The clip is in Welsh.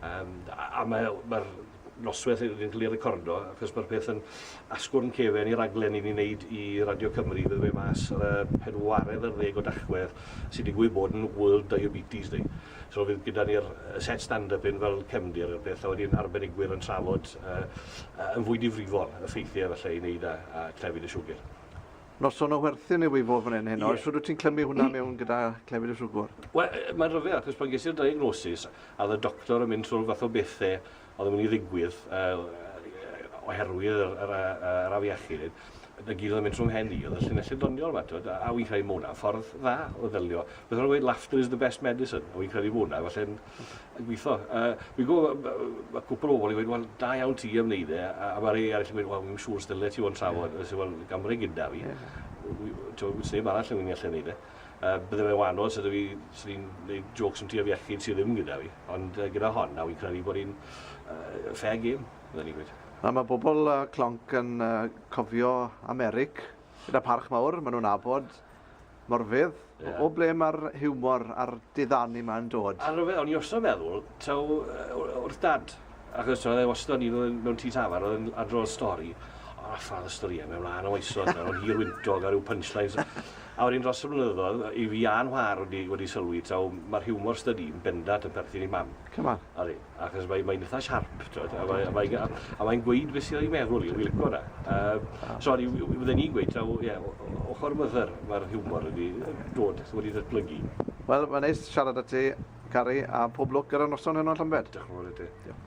Yym, a, a mae, mae'r noswaith yn cael ei recordo, achos mae'r peth yn asgwrn cefen i raglen i ni'n neud i Radio Cymru, bydde fe mas ar y pedwaredd ar ddeg o Dachwedd, sy'n digwydd bod yn World Diabetes Day. So fydd gyda ni'r set stand-up hyn fel cefndir i'r peth, a wedyn arbenigwyr yn trafod, uh, yn fwy difrifol, y ffeithiau falle i wneud a, a clefyd y siwgr. noson o werthin yw i fod fan hyn heno. Ie. Os wyt ti'n clymu hwnna mm. mewn gyda clefyd y siwgwr? Wel, mae'n rhyfedd, achos pan ges i'r diagnosis, a oedd y doctor yn mynd trwy'r fath o bethau oedd yn mynd i ddigwydd uh, oherwydd yr, yr, yr afiechyd, y gyd oedd yn mynd trwy'm hen i, oedd y llinellau doniol yma, twyd, a wy'n credu mwna, ffordd dda o ddelio. Beth o'n gweud, laughter is the best medicine, a wy'n credu mwna, felly'n yn gweithio. A fi'n gwybod, mae cwpl o bobl yn gweud, wel, da iawn ti am wneud e, a, a mae rhai arall yn gweud, wel, fi'n siŵr stylet ti o'n trafod, yeah. wel, gamre gyda fi, yeah. ti'n sef arall yn mynd i allan wneud e. Uh, bydde fe wahanol sydd fi, sydd fi'n gwneud jokes am ti am iechyd sydd ddim gyda fi, ond uh, gyda hon, na fi'n credu bod hi'n uh, fair game, bydde ni'n gweud. A mae bobl uh, clonc yn uh, cofio Americ, gyda parch mawr, maen nhw'n abod Morfudd, o ble mae'r hiwmor a'r diddanu 'ma yn dod? A rhyfedd, o'n i wastad yn meddwl, taw wrth Dad, achos oedd e wastad yn un mewn tŷ tafarn, oedd e'n adrodd stori, o, ffafr storïau, mewn wlân o oesoedd, mewn o'n hir wyntog a rhyw punchlines, a wedyn dros y blynyddoedd, i fi a'n whar wedi wedi sylwi, taw mae'r hiwmor 'stydi, yn bendant yn perthyn i Mam. Come on. Odi. achos mae'n mae eitha siarp, twyd, a mae'n mae, a, a mae gweud beth sy'n ei meddwl i, wy'n licio na. Um, ah. so, fydden ni'n gweud, taw, ie, ochr mythyr, mae'r hiwmor wedi dod, wedi datblygu. Wel, mae'n neis siarad â ti, Cari, a pob lwc ar y noson hwnnw yn Llambed. Diolch yn fawr i ti. Diolch.